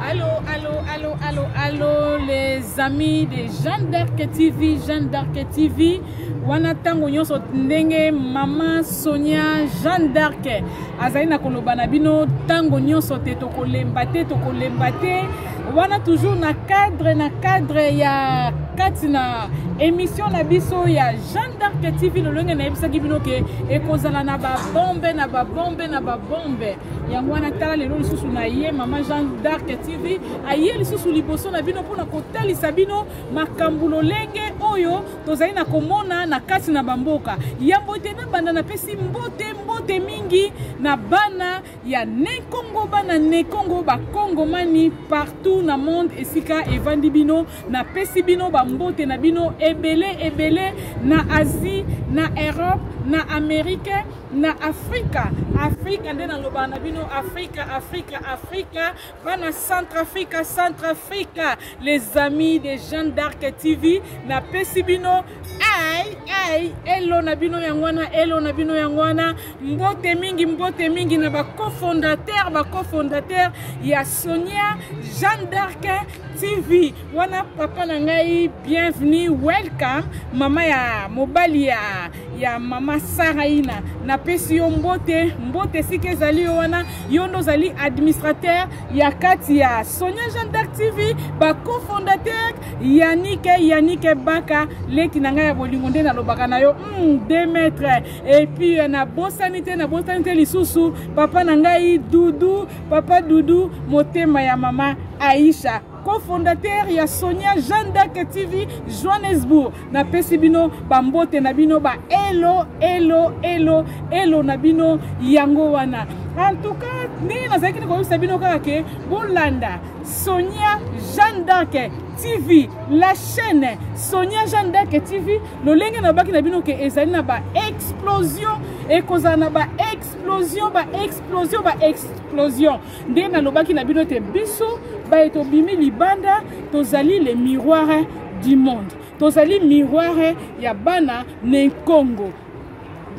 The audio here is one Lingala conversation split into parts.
Allô, allô, allô, allô, allô, les amis de Jeanne d'Arc TV, Jeanne d'Arc TV. wana ntango nyonso ndenge mama sonia jeanne d'arc azali na koloba na bino ntango nyonso te tokolemba te tokolemba te wana toujours na cadre na cadre ya kati na émission na biso ya jeanne d'arc tv lolenge nayebisaki bino ke ekozala na babombe na babombe na babombe yango wana tala lelo lisusu na ye mama jean d'arc tv aye lisusu liboso na bino mpona kotalisa bino makambo lolenge oyo tozali na komona na kati na bamboka yambo ete nabanda napesi mbote mbote mingi na bana ya nekongo bana nekongo bakongomani partout na monde esika evandi bino napesi bino bambote na bino ebele ebele na asie na europe na amerike na afrika afrika nde nalobaka na bino afrika afrika afrika bana centrafrica centrafrica les amis de jean d'arc tv napesi bino ai ai elo na bino yango wana elo na bino yango wana mbote mingi mbote mingi na bacofondateur bacofondateur ya sonia jean d'arc tv wana papa na ngai bienvenue welcome mama ya mobali ya ya mama saraina napesi yo mbote mbote esika ezali yo wana yo nde ozali administrateur ya kati ya sonia jean dark tv bacofondateur yanike yanike baka leki na ngai ya bolingo nde nalobaka na yo mm, de maitre epuis euh, nabosani te nabosani te lisusu papa na ngai dudu papa dudu motema ya mama aisha cofondateur ya sonia jeanne d'arc tv johannesbourg napesi bino bambote na bino ba elo elo elo elo na bino yango wana en tout cas ndenge nazalaki te koyebisa bino kaka ke bolanda sonia jeanne d'arc tv la chaîne sonia jeanne d'arc tv lolenge nalobaki na bino ke ezali na baexplosion ekozala na baexplosion baexplosion baexplosion nde nalobaki na bino te biso baye tobimi libanda tozali le miroir du monde tozali miroir ya bana na nkongo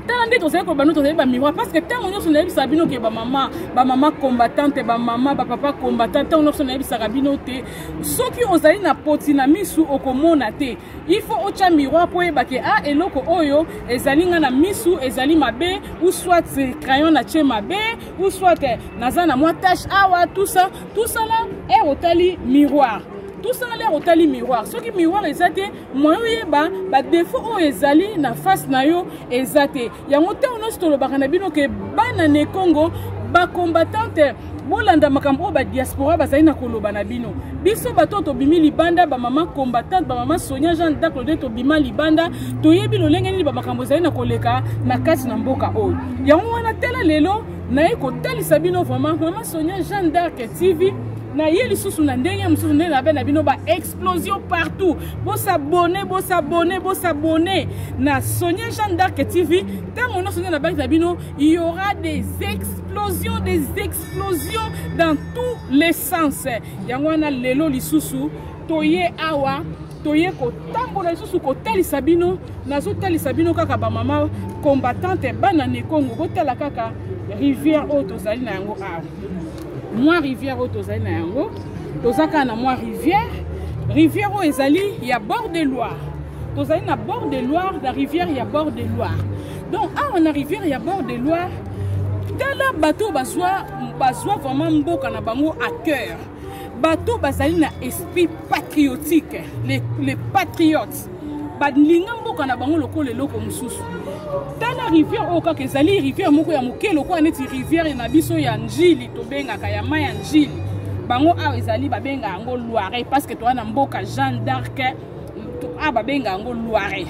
tala nde tozali koloba no tozali bamiroir parce que ntango nyonso nayebisaka bino ke bamama bamama combattante bamama bapapa combattant ntango nyonso nayebisaka bino te soki ozali na poti na misu okomona te il faut otya miroir mpo oyeba ke a ah, eloko oyo ezali ngai na misu ezali mabe ou soit crayon na tie mabe ou soit eh, naza na mwa tache awa tout ça tout ça là ere eh, otali miroir tout ça lere otali miroir soki miroir eza te moyen oyeba badefaut oyo ezali na face na yo eza te yango ntango nyonso tolobaka na bino ke bana ne congo bacombattante bolanda makambo oyo badiaspora bazali na koloba na bino biso bato oyo tobimi libanda bamama combattante bamama sonia jean daklode tobima libanda toyebi lolenge nini bamakambo ezali na koleka na kati na mboka oyo yango wana tala lelo naye kotalisa bino vraiment mama sonia jeanne d'arc tv naye lisusu na ndenge mosusu nde nabe na bino baexplosion partout bosabone bosabone bosabone na sonia jeanne d'arc tv ntango nyonso nde nabaki na bino y aura des explosions des explosions dans tous les sens yango wana lelo lisusu toye awa toye kotambola lisusu kotalisa bino nazotalisa bino kaka bamama combattante bana nekongo botala kaka rivière oyo tozali na yango awa mwa rivière oyo tozali na yango toza kaka na mwa rivière rivière oyo ezali ya bord de loire tozali na bord de loire na rivière ya bord de loire donc awa na rivière ya bord de loire tala bato oyo bazwa vraiment mboka na bango à cœur bato bazali na esprit patriotique les, les patriotes balinga mboka na bango lokola eloko mosusu tala rivière oyo kaka ezali rivière moko ya moke lokola neti rivière na biso ya njili tobengaka ya mai ya njili bango awa ezali babenga yango loire parce que toza na mboka jeanne d'arc awa babenga yango loire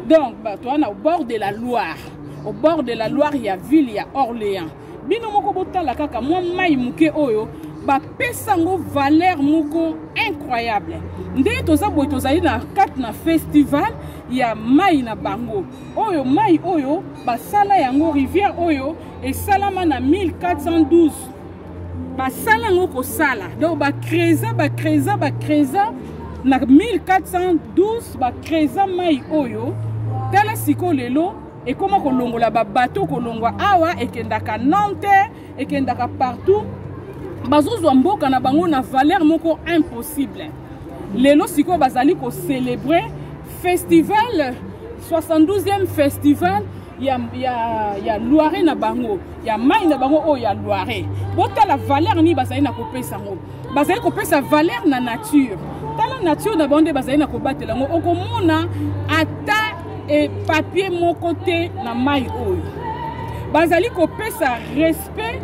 donc toza na bord de la loire au bord de la loire ya ville ya orléans bino moko botala kaka mwa mai moke oyo bapesa yango valeur moko incroyable nde toza boye tozali na kati na festival ya mai na bango oyo mai oyo basala yango rivière oyo esalama na 1412 basala yango kosala donc bacresa bacresa bacresa na 1412 bacresa mai oyo tala sikoyo lelo ekoma kolongola babato kolongwa awa ekendaka nanterre ekendaka partout bazozwa mboka na bango na valeur moko impossible lelo sikoyo bazali kocelebre festival 72e festival ya, ya, ya loire na bango ya mai na bango oyo ya loire botala valeur nini bazali na kopesa yango bazali kopesa valeur na nature tala nature na bango nde bazali na kobatela yango okomona ata e papier moko te na mai oyo bazali kopesa respect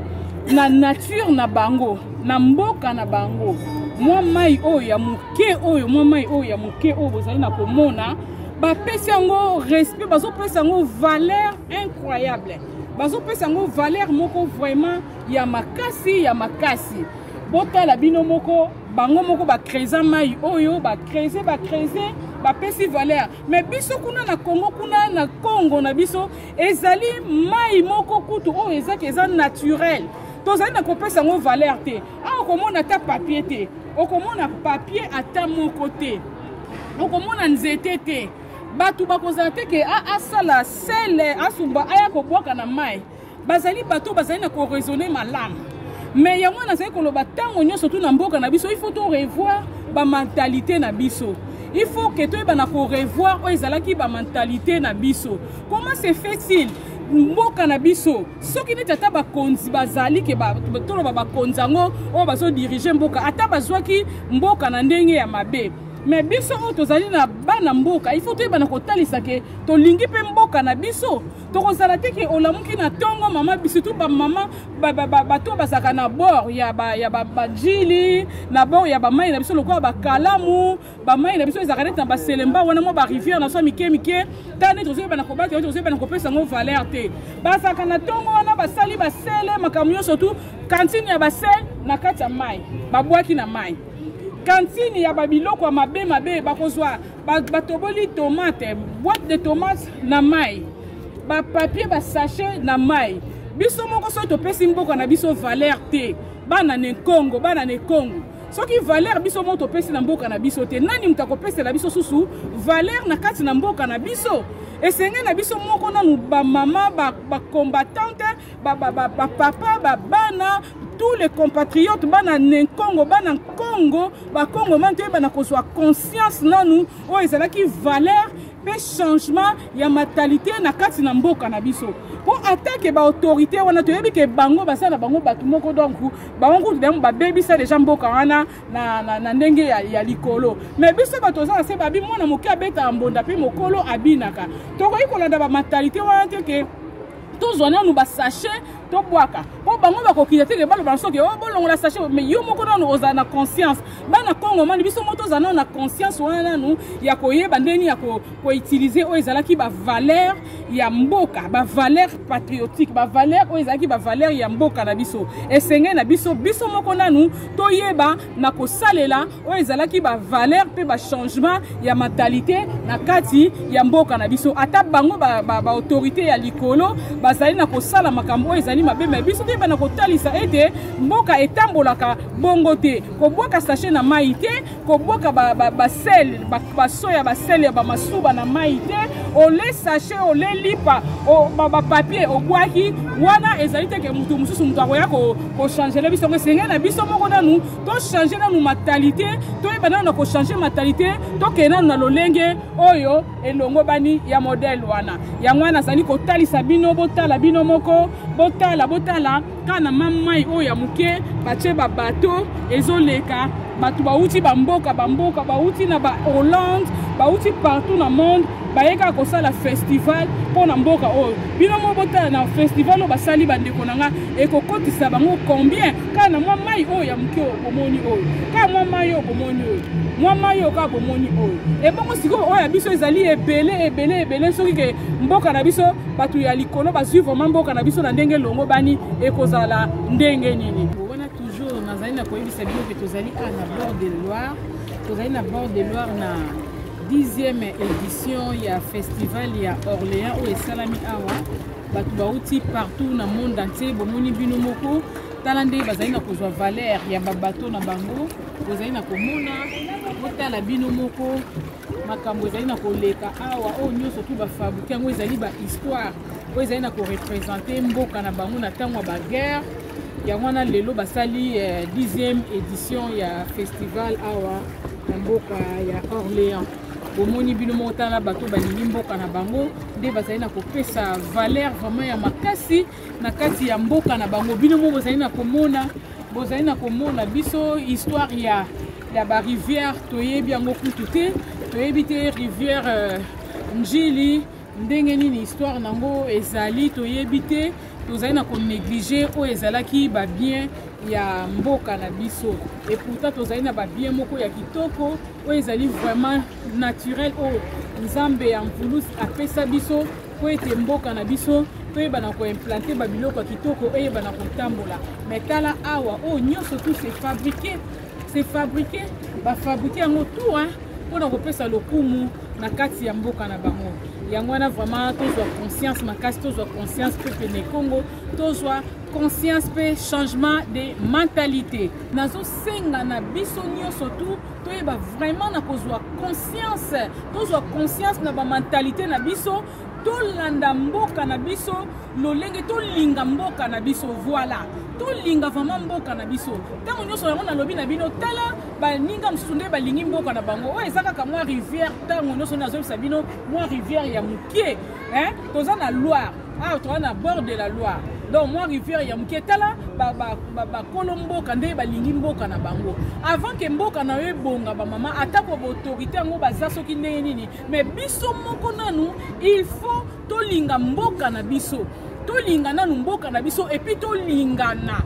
na nature na bango na mboka na bango mwa mai oyo ya moke oyo mwa mai oyo ya moke oyo bozali na komona bapesi yango respect bazopesa yango valeur incroyable bazopesa yango valeur moko vraiment ya makasi ya makasi botala bino moko bango moko bacresa mai oyo bacrese bacrese bapesi valeur me biso kuna na congo kuna na congo na biso ezali mai moko kutu oyo ezaki eza naturel tozali na kopesa yango valeur te awa okomona ata papier te okomona papier ata moko te okomona nzete te bato bakozala te ke asala sele asumba aya kobwaka na mai bazali bato oyo bazali na koraisonne malamu me yango wana nazali koloba ntango nyonso tu na mboka na biso il faut torevoir bamentalité na biso il faut ke toyeba na korevoir oyo ezalaki bamentalité na biso comment se fait-il mboka na biso soki neti ata bakonzi bazali ke toloba bakonzi yango oyo bazodirige mboka ata bazwaki mboka na ndenge ya mabe me biso oyo tozali na bana mboka il faut toyeba na kotalisa ke tolingi mpe mboka na biso tokozala te ke olamuki na ntongo mama surtout bamama bato bazalaka na bord ya bajili na bord ya bamai na biso lokola bakalamu bamai na biso ezalaka neti na baselemba wana mwa barivière na biso ya mike mike ntango neti tozoyebana kobata yo tozoyebana kopesa yango valeur te bazalaka na ntongo wana basali basele makambo nyonso tu kantine ya basele na kati ya mai babwaki na mai kantine ya babiloko ya mabe mabe bakozwa batoboli tomate boite de tomate na mai bapapier basachet na mai biso moko soki topesi mboka na biso valeur te bana na ekongo bana na ekongo soki valeur biso moko topesi na mboka na biso te nani moto akopesela biso susu valeur na kati na mboka na biso esenge na biso moko nanu bamama bakombatante ba ba ba ba ba papa ba bana tous les compatriotes bana nenkongo bana nkongo bakongomani toyebana kozwa conscience nanu oyo ezalaki valeur mpe changement ya mentalité na kati na mboka na biso mpo atake baautorité wana toyebi ke bango baza na bango bato moko donc bango kutu dango babebisa deja mboka wana na, na, na ndenge ya, ya likolo me biso bato oza na se babi mwana moke abetaka mbonda mpe mokolo abinaka tokoki kolanda bamentalité wana te ke tozwa nanu basachet tobwaka mpo bango bakokita te ke baloba na soki o oh, bolongola sachet mais yo moko nanu ozala na conscience bana congo mani biso moko tozala nanu na conscience wana nanu ya koyeba ndenge nini ya koutilize oyo ezalaki bavaleur ya mboka bavaleur patriotique bavaleur oyo ezalaki bavaleur ya mboka na biso esengeli na biso biso moko nanu toyeba na kosalela oyo ezalaki bavaleur mpe bachangement ya mentalite na kati ya mboka na biso ata bango baautorité ba, ba ya likolo bazali na kosala makambo oyo ezali mabe ma biso toyeba na kotalisa ete mboka etambolaka bongo te kobwaka sache na mai te kobwaka basele ba, ba baso ya basele ya bamasuba na mai te ole sache ole lipa bapapier obwaki wana ezali teke moto mosusu moto akoya kochangele biso yango esengeli na biso moko nanu tochange nanu matalite toyeba nanu na kochange matalite tokende nanu na lolenge oyo elongobani ya modele wana yango wana azali kotalisa bino botala bino moko botala botala kaka na mamai oyo ya moke batye babato ezoleka bato bauti bamboka bamboka bauti na bahollande bauti partout na monde baye kaka kosala festival mpo na mboka oyo bino moko botala na festival oyo basali bandeko na ngai ekokotisa bango combien kaka na mwa mai oyo ya moke oyo bomoni oyo kaka mwa mai oyo bomoni oyo mwa mai oyo kaka bomoni oyo ebongo sikoyo oyo ya biso ezali ebele ebele ebele soki ke mboka na biso bato ya likolo bazwi vraimen mboka na biso na ndenge elongobani ekozala ndenge nini wana toujours nazali na koyebisa bino ke tozali a na bord de loire tozali na bord de loire na 10e édition ya festival ya orléans oyo esalami awa bato bauti partout na monde entier bomoni bino moko tala nde bazali na kozwa valeur ya babato na bango bozali na komona botala bino moko makambo ezali na koleka awa oyo nyonso tu bafabrike yango ezali bahistoire oyo ezali na korepresente mboka na bango na ntango ya baguerre yango wana lelo basali 10e eh, édition ya festival awa na mboka ya orléans bomoni bino moko tala bato balingi mboka na bango nde bazali na kopesa valeur vraiment ya makasi na kati ya mboka na bango bino moko bozali na komona bozali na komona biso histoire ya ya barivière toyebi yango kutu te toyebi te rivière euh, njili ndenge nini histoire na yango ezali toyebi te tozali na konéglige oyo ezalaki babien ya mboka na biso eputa tozali na babien moko ya kitoko oyo ezali vraiment naturel oyo nzambe ya mvulus apesa biso mpo ete mboka na biso toyebana koimplante babiloko ya kitoko eyebana kotambola mai tala awa oyo oh, nyonso tu se fabrike se fabrike bafabrike yango tu hein, mpo na kopesa lokumu na kati ya mboka na bango yango wana vraiment tozwa conscience makasi tozwa conscience mpe pene congo tozwa conscience mpe changement de mentalité nazosenga na biso nyonso tu toyeba vraiment na kozwa conscience tozwa conscience na bamentalité na biso tolanda mboka na biso lolenge tolinga mboka na biso voilà tolinga vraiment mboka na biso ntango nyonso yango nalobi na bino tala baninga mosusu nde balingi mboka na bango oyo eza kaka mwa rivière ntango nyonso nazobisa bino mwa rivière ya moke hein toza na loire awa ah, toza na bord de la loire donc mwa rivière ya moke tala bakolo mboka nde balingi mboka na bango avant ke mboka na yo ebonga bamama atako baautorité yango baza soki ndenge nini mais biso moko nanu il faut tolinga mboka na biso tolinga nanu mboka na biso epuis tolingana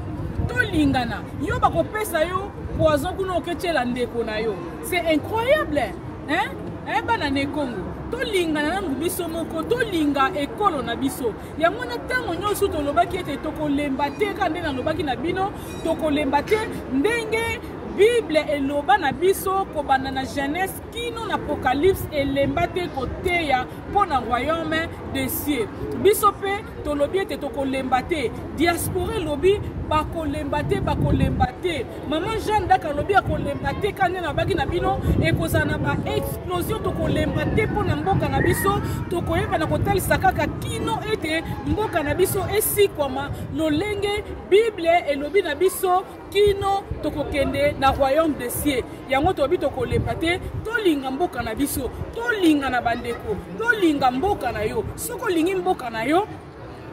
tolingana yo bakopesa yo poison kuna oketyela ndeko na yo c'est incroyable hein eh, bana na ekongo tolingana nango biso moko tolinga ekolo na biso yango wana ntango nyonso tolobaki ete tokolemba te kaka nde nalobaki na bino tokolemba te ndenge bible eloba na biso kobanda na genèse kino na apocalypse elemba te koteya mpo na royaume de cieux biso mpe tolobi ete tokolemba te diaspora elobi bakolemba te bakolemba te Maman Jeanne d'Arc alobi akolemba te kani na baki na bino ekozala na ba explosion tokolemba te mpo na mboka na biso tokoyeba na kotalisa kaka kino ete mboka na biso esikwama lolenge bible elobi na biso kino tokokende na royaume de cieux yango tolobi tokolemba te tolinga mboka na biso tolinga na bandeko tolinga mboka na yo soki olingi mboka na yo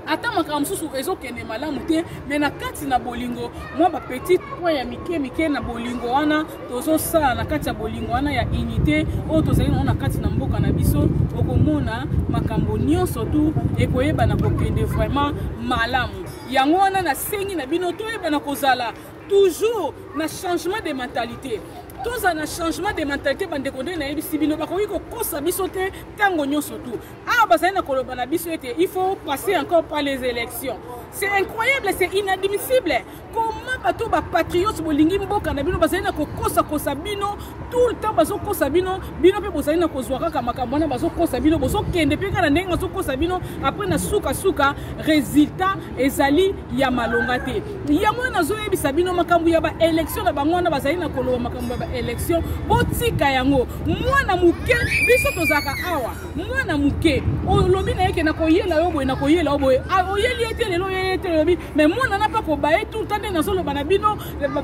ata makambo mosusu ezokende malamu te me na kati na bolingo mwa bapetite point ya mike mike na bolingo wana tozosala na kati ya bolingo wana ya unité oyo tozali nango na kati na mboka na biso okomona makambo nyonso tu ekoyebana kokende vraiment malamu yango wana nasengi na bino toyebana kozala toujours na changement de mentalité tozala na changement de mentalité bandeko nde nayebisi bino bakoki kokosa biso te ntango nyonso tu awa bazali na koloba na biso ete il faut passer encore par les élections c'est incroyable c'est inadmissible comment bato bapatriote bolingi mboka na bino bazali na kokosakosa bino tout le temps bazokosa bino bino mpe bozali na kozwa kaka makambo wana bazokosa bino bozokende mpe kaka na ndenge bazokosa bino apres na sukasuka résultat ezali ya malonga te yango wana nazoyebisa bino makambo ya baélection na bango wana bazali na koloba makambo ya baélection botika yango mwana moke biso tozalaka awa mwana moke olobi na ye ke nakoyela yo boye nakoyela yo boye ah, oyeli ye te lelo oyeli ye te olobi me mwana na mpe akoba ye tuta nde nazoloba na bino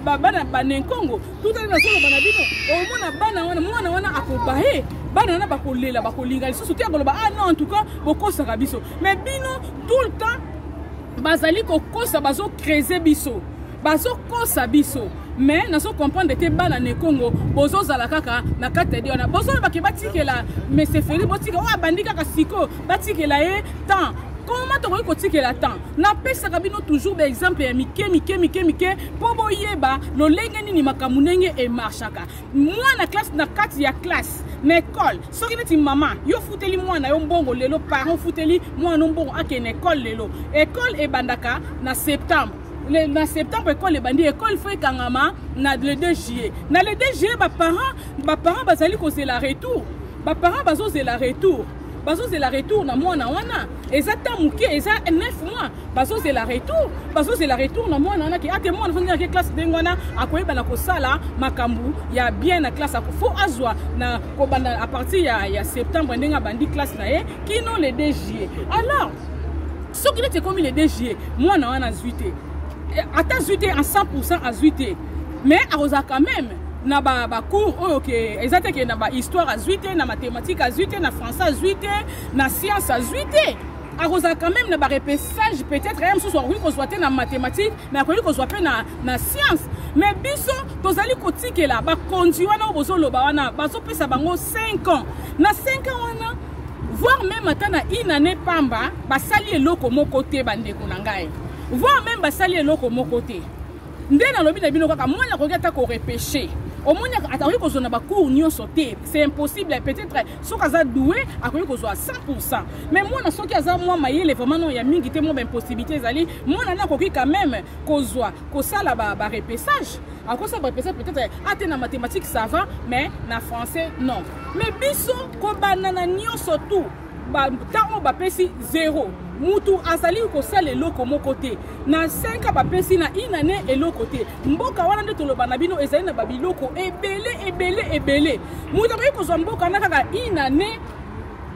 bana banenkongo tuta nde nazoloba na bino omona bana wana mwana wana akoba ye bana wana bakolela bakolinga lisusu te akoloba ah non en tout cas bokosaka biso me bino tout le temps bazali kokosa bazocrese biso bazo kosa biso mais nazo comprendre te bana na ekongo bozozala kaka na kati ya de wana bozoloba ke batikela mesefeli botika oyo abandi kaka siko batikela ye temps koma tokoki kotikela temps napesaka bino toujours baexemple ya mike mike mike mike mpo boyeba lolenge nini makambo ndenge emarshaka mwana classe na kati ya classe na ekole soki neti mama yo ofuteli mwana yo mbongo lelo parent ofuteli mwana yo mbongo akende ekole lelo ekole ebandaka na septembre le, na septembre ekole ebandi ekole fo ekangama na le 2 juillet na le 2 juillet baparent baparent bazali kozela retour baparent bazozela retour bazozela retour na mwana wana eza ta moke eza 9 mois bazozela retour bazozela retour na mwana wana ke ate mwana fo ndenge classe ndenge wana akoyeba na kosala makambo ya bien na classe fo azwa na kobanda a partir ya, ya septembre ndenge abandi classe na ye kino le 2 juillet alors soki neti ekomi le 2 juillet mwana wana azwi te eh, ata azwi te en 100 pourcent azwi te mais akozala quand même na bacours ba oyo ke eza te ke na bahistoire azwi te na mathématique azwi te na français azwi te na science azwi te akozala quand même na barepessage peut-être ye mosusu akoki kozwa te na mathématique mais akoki kozwa mpe na, na science mais biso tozali kotikela bakonzi wana oyo bozoloba wana bazopesa bango 5 ans na 5 ans wana voir meme ata na une année pamba basali eloko moko te bandeko na ngai voir meme basali eloko moko te nde nalobi na bino kaka mwana akoki ata korepeche omoni akoki kozwa na bacours nyonso te c'est impossible peut-être soki aza doue akoki kozwa 100 mais mwana soki aza mwa mayele vraiment no ya mingi te mwa baimpossibilité ezali mwana nde akoki quand même kozwa kosala barepessage akosala barepessage peut-être ate na mathématique ça va mais na français non me biso kobanda na nyonso tu ntango bapesi zero mutu azali kosala eloko moko te na 5 bapesi na inane eloko te mboka wana nde toloba na bino ezali na babiloko ebele ebele ebele moto akoki kozwa mboka na kaka inane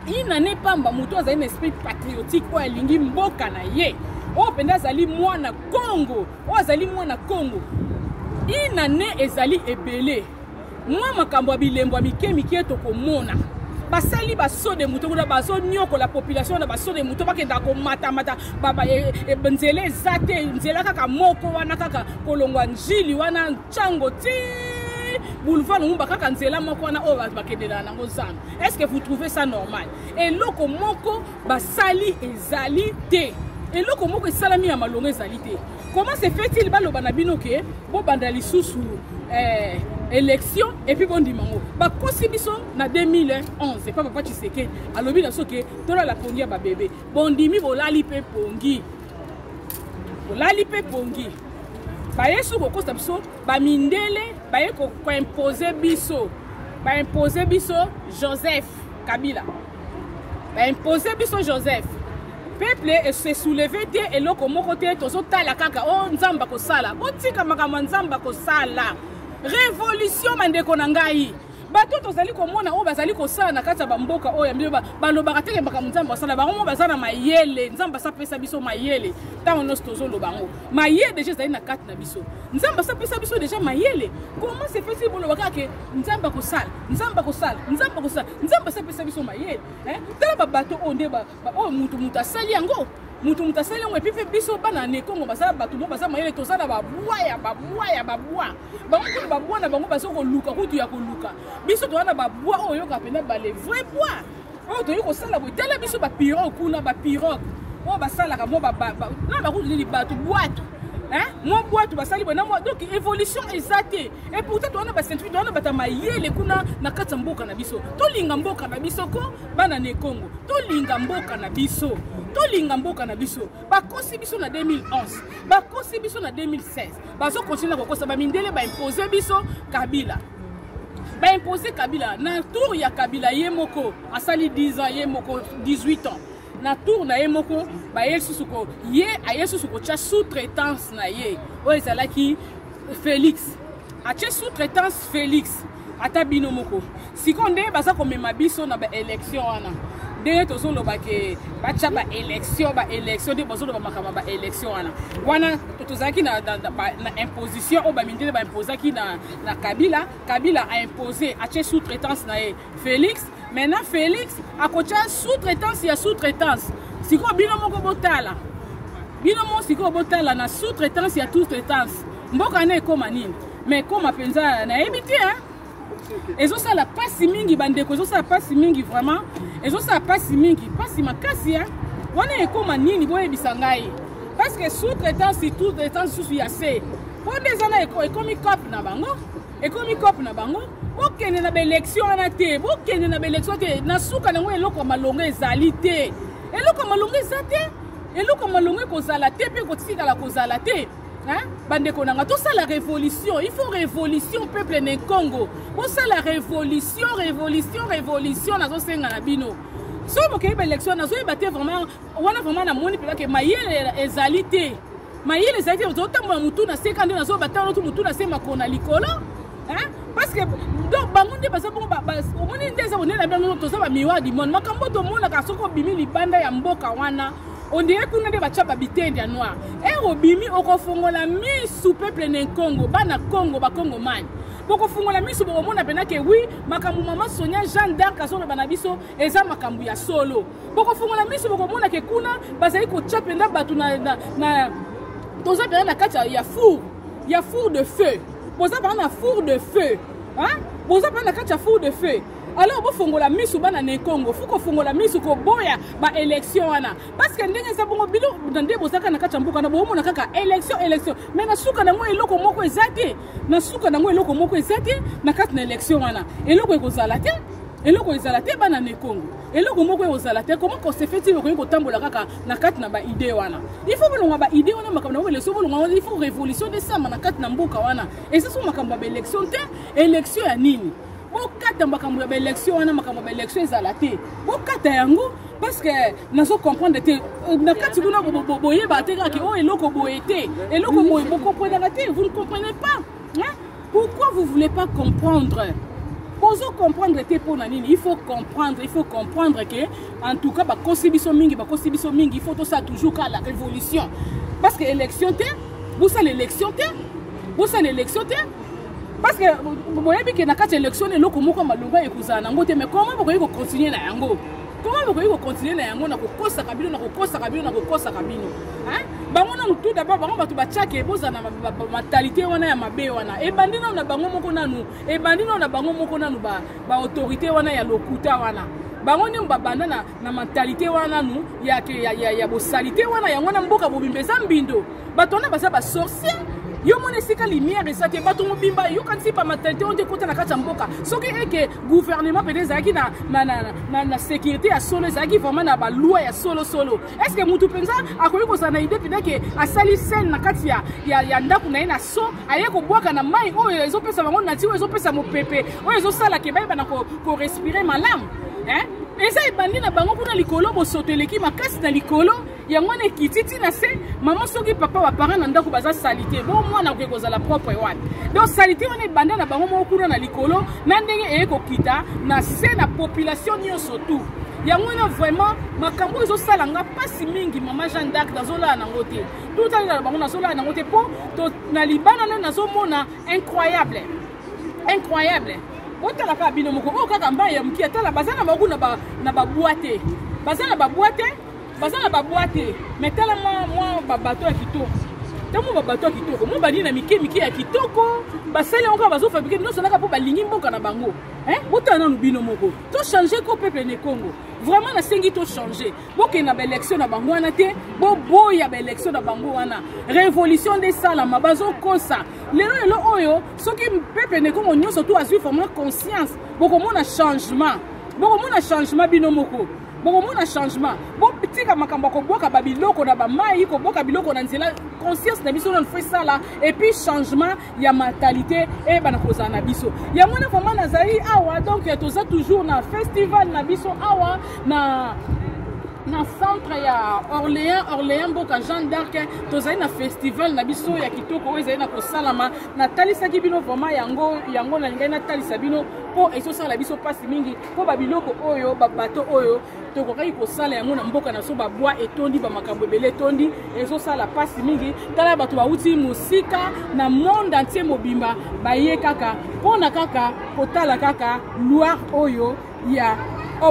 inane pamba moto azali na esprit patriotique oyo alingi mboka na ye oyo mpenza azali mwana kongo oyo azali mwana kongo inane ezali ebele mwa makambo ya bilembo ya mike mike tokomona basali basode moto kuna bazonyokola population na basode moto bakendaka komatamata e, e, nzela eza te nzela kaka moko wana kaka kolongwa njili wana ntango ti boulevard lumumba kaka nzela moko wana oyo bato bakendelaka nango zana est ce que vous trouvez ça normal eloko moko basali ezali te eloko moko esalami ya malonga ezali te Comment se fait-il baloba na bino ke bobanda lisusu eh, élection epuis bondima yango bakosi biso na 2011 epa papa tshisekedi alobi na biso ke tolala pongi ya babebe bondimi bolali mpe pongi bolali mpe pongi baye soki kokosa biso bamindele baye koimpose biso baimpose biso joseph kabila ba impose biso joseph peuple se souleve te eloko moko te tozotala kaka o oh, nzambe akosala botika makambo ya nzambe akosala révolution bandeko na ngai bato tozali komona oyo bazali kosala na kati ya bamboka oyo ya mbio balobaka teke makambo nzambe asala bango mo baza na mayele nzambe asapesa biso mayele ntango nyonso tozoloba yango mayele deja ezali na kati na biso nzambe asapesa biso deja mayele koma sepesi boloba kaka ke nzambe akosala nzambe akosala nzambe akosala nzambe asapesa biso mayele eh? tala babato oyo nde oyo moto moto asali yango moto moto asali yango epi mpe biso bana na ekongo baza bato mo baza mayele toza na babwa ya babwa ya babwa bango kutu babwa na bango baza koluka kutu ya koluka biso toza na babwa oyo oyoka mpena bale vrai bwa oyo toyei kosala boye tala biso bapirogue kuna bapirogue oyo basalaka mwa na bakutu nini bato bwato mwa bwato basali boye na mwa donc évolution eza te e pourtant towana bacentuire towana bata mayele kuna na kati ya mboka na biso tolinga mboka na biso ko bana na ekongo tolinga mboka na biso tolinga mboka na biso bakosi biso na 2011 bakosi biso na 2016 bazokontinue na kokosa bamindele baimpose biso kabila ba imposer Kabila na tour ya Kabila ye moko asali 10 ans ye moko 18 ans na tour na ye moko baye lisusu ko ye aye lisusu kotya sous-traitance na ye oyo ezalaki Félix atye sous-traitance Félix ata bino moko sikoyo nde baza komema biso na baélection wana ndenge tozoloba ke batya baélection baélection nde bazoloba makambo ya baélection wana wana tozalaki na imposition oyo bamindele baimpozaki na na kabila kabila a impose atie sous traitance na ye félix maintenant félix akotia sous traitance ya sous traitance sikoyo bino moko botala bino moko sikoyo botala na sous traitance ya sous traitance mboka na ekóma nini mais ekóma mpenza nayebi te hein? ezosala mpasi mingi bandeko ezosala mpasi mingi vraiment ezosala mpasi mingi mpasi makasi hein? wana ekóma nini boyebisa ngai parce que sous traitant surtout traitant susu ya se po nde eza na ekomi cope na bango ekomi cope na bango bokende na baélection wana te bokende na baélection te na suka nango eloko ya malonga ezali te eloko ya malonga eza te eloko ya malonga ekozala te mpe ekotikala kozala te bandeko na nga tosala révolution il faut révolution peuple na congo bosala révolution révolution révolution nazosenga na bino soki bokeyi baélection nazoyeba te vraiment wana vraiment namoni mpenza ke mayele ezali te mayele ezali te ozotambola motu na se kande nazobatala otu motu na se makolo na likolo parce que donc bango nde baza bongo omoni nde eza konela bino toza bamiwa dimone makambo tomonaka soki obimi libanda ya mboka wana ondire kuna nde batya babitende ya noir e eh, obimi okofongola misu peuple na nkongo bana kongo bakongomani bokofungola miso bokomona mpenza ke wi makambo mama sonia jeanne d'arc azoloba na biso eza makambo ya solo bokofungola miso bokomona ke kuna bazali kotya mpenza bato na, na, na toza mpenza na kati ya four ya four de feu boza mpenza na four de feu boza mpenza na kati ya four de feu alors bofongola misu bana na ekongo fo kofongola misu koboya baélection wana parceke ndenge eza bongo bino na nde bozalaka na kati ya mboka na boomona kaka élection élection mai na suka nango eloko moko eza te na suka nango eloko moko eza te na kati na élection wana eloko ekozala te eloko ezala te bana na ekongo eloko moko ekozala te koma kosefeti bokoki kotambola kaka na kati na baide wana il faut bolonga baide wana makambo yango beleso bolonga wana il faut révolution nde esama na kati na mboka wana eza so makambo ya baélection te élection ya nini bokata makambo ya baélection wana makambo ya baélection ezala te bokata yango parce que nazo comprendre te euh, na kati kuna boyebaka te kaka oyo oh, eloko boye te eloko boye bokomprenaka te vous ne comprenez pas hein? pourquoi vous voulez pas comprendre bozo comprendre te mpo na nini il faut comprendre il faut comprendre que en tout cas bakosi biso mingi bakosi biso mingi il faut tosala toujours kaka la révolution parce que élection te bosala élection te bosala élection te parce que boyebi ke na kati ya élection na eloko moko ya malonga ekozala nango te mais comment bokoki kocontinue na yango Comment vous pouvez continuer na yango na kokosaka bino na kokosaka bino na kokosaka bino hein bango nanu tout d'abord bango bato batiake boza na matalité wana ya mabe wana ebandi nanu na bango moko nanu ebandi nanu na bango moko nanu ba ba autorité wana ya lokuta wana bango nini babanda na, na mentalite wana nanu ya, ya, ya, ya bosalite wana yango na mboka bobimba eza mbindo bato wana baza basorcier yo mona esika lumière eza te bato mobimba yokanisi bamatalité oyo nde ekota na kati ya mboka soki eke gouvernement mpenza ezalaki na, na, na, na, na sécurité ya solo ezalaki vraiment na baloi ya solosolo est ce que motu mpenza akoki kozala na idée mpenza ke asali sele na kati ya, ya, ya ndako na ye na so aye kobwaka na mai oyo ezopesa bango nati oyo ezopesa mopepe oyo ezosala ke bayebana korespire ko malamu eh? eza ebandi na bango kuna likolo bosoto eleki makasi na likolo yango wana ekiti ti na se mama soki papa baparent na ndako baza salite bo mwana akoki kozala propre wapi donc salite wana ebanda na bango moko kuna na likolo na ndenge eye kokita na se na population nyonso tout yango wana vraiment makambo oyo ezosala nga mpasi mingi mama jeanne dark nazolala nango te totalela na bango nazolala nango te mpo na libana nde nazomona incroyable incroyable botala kaka bino moko oyo kaka mbai ya moke atala baza na bango na babwa te baza na babwa te baza na babwa te me tala mwa babato ya kitoko ntango babato ya kitoko mwa balie na mike mike ya kitoko basali yango kaka bazofabrike nyonso naka mpo balingi mboka na bango botala nanu bino moko tochange ko peuple ne congo vraiment nasengi tochange bokende na baélection na bango wana te boboya baélection na bango wana révolution nde esalama bazokosa lelo lelo oyo soki peuple ne congo nyonso to azwi vraiment conscience bokomona changement bokomona changement bino moko bokomona changement botika makambo ya kobwaka babiloko na bamai kobwaka biloko na nzela conscience na biso nano fo esala epuis changement ya mentalite eyebana kozala na biso yango wana vraimen nazali awa donc toza toujours na festival na biso awa na na centre ya orléans orléans mboka jean d'arc tozali na festival na biso ya kitoko oyo ezali na kosalama natalisaki bino vraimen yango yango nalingaki natalisa bino mpo ezosala biso mpasi mingi mpo babiloko oyo babato oyo tokokaki kosala yango na mboka na biso babwa etondi bamakambo ebele etondi ezosala mpasi mingi tala bato bauti mosika na monde antie mobimba baye kaka mpo na kaka kotala kaka loire oyo ya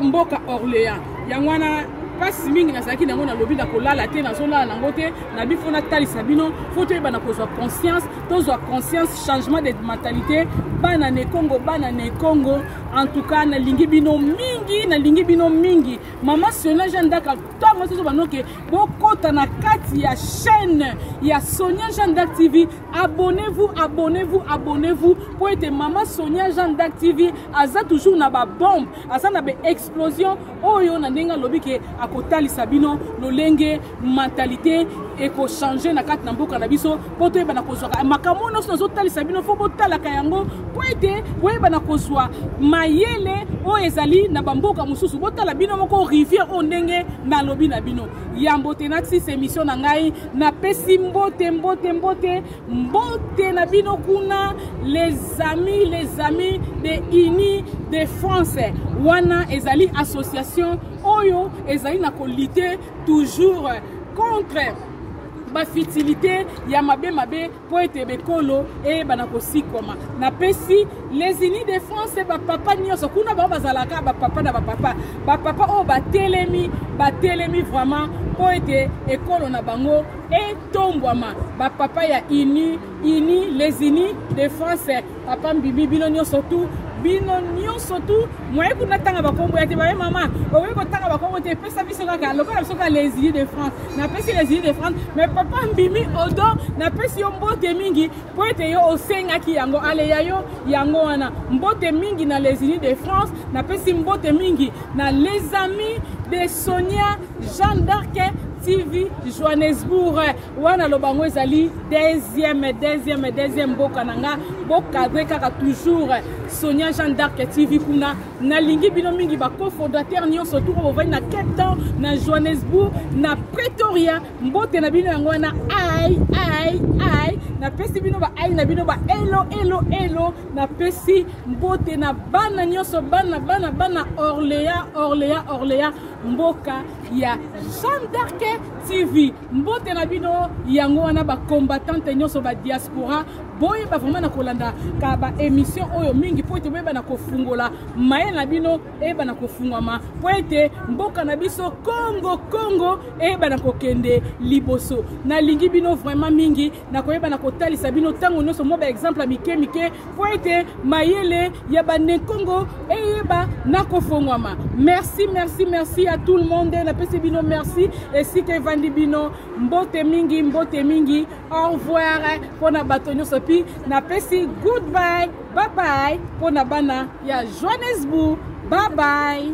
mboka orléans yango wana mpasi mingi nazalaki na yango nalobi na kolala te nazolala na yango te na bifo natalisa bino fo toyeba na kozwa conscience tozwa conscience changement de mentalité bana na ekongo bana na ekongo en tout cas nalingi bino mingi nalingi bino mingi mama sonia jean dak ntango nyonso banoke bokota na kati ya chaîne ya sonia jean dak tv abonnez-vous abonnez-vous abonnez-vous mpo ete mama sonia jean dak tv aza toujours na babombe aza na baexplosion oyo na ndenge alobi ke akotalisa bino lolenge mentalite ekochange na kati na mboka na biso mpo toyebana kozwaka makambo nyonso nazotalisa bino fo botalaka yango mpo ete boyebana kozwa mayele oyo ezali na bamboka mosusu botala bino moko rivière oyo ndenge nalobi na bino yambo te natis emission na ngai napesi mbote mbote mbote mbote na bino kuna les amis les amis de uni de france wana ezali association oyo ezali na kolite toujours contre bafitilité ya mabe mabe mpo ete bekolo eyebana kosikwama napesi les unis de france bapapa nyonso kuna bango bazalaka bapapa na bapapa bapapa oyo batelemi batelemi vraiment mpo ete ekolo na bango e tombwama ba papa ya uni uni les unis de france papa mbibi bino nyonso tu bino nyonso tu moye kuna tanga bakombo ya te baye mama okoki kotanga bakombo te epesa biso kaka lokola biso kaka les unis de france napesi les unis de france mais papa mbimi odo napesi yo mbote mingi mpo ete yo osengaki yango aleya yo yango wana mbote mingi na les unis de france napesi mbote mingi na les amis de sonia Jeanne d'Arc TV Johannesburg wana loba yango ezali deuxième deuxième deuxième mboka na nga bokadre kaka toujours Sonia Jeanne d'Arc TV kuna nalingi bino mingi ba cofondateur nyonso tuko bovandi na Cape Town na Johannesburg na Pretoria mbote na bino yango wana ai ai ai napesi bino ba ai na bino ba elo elo elo napesi mbote na bana nyonso bana bana bana Orléans Orléans Orléans mboka ya jeanne d'arc tv mbote na bino yango wana bacombatante nyonso badiaspora boyeba vraimen na kolanda ka baémission oyo mingi mpo ete boyeba na kofungola mayele na bino eyeba na kofungwama mpo ete mboka na biso kongo kongo eyeba na kokende liboso nalingi bino vraimen mingi nakoyeba na kotalisa bino ntango nyonso mwa baexemple ya mike mike mpo ete mayele ya banenkongo eyeba na kofongwama merci merci merci ya tout le monde napesi bino merci esika evandi bino mbote mingi mbote mingi au revoir mpo na bato nyonso mpi napesi goodby babai mpo na bana ya johannesburg babai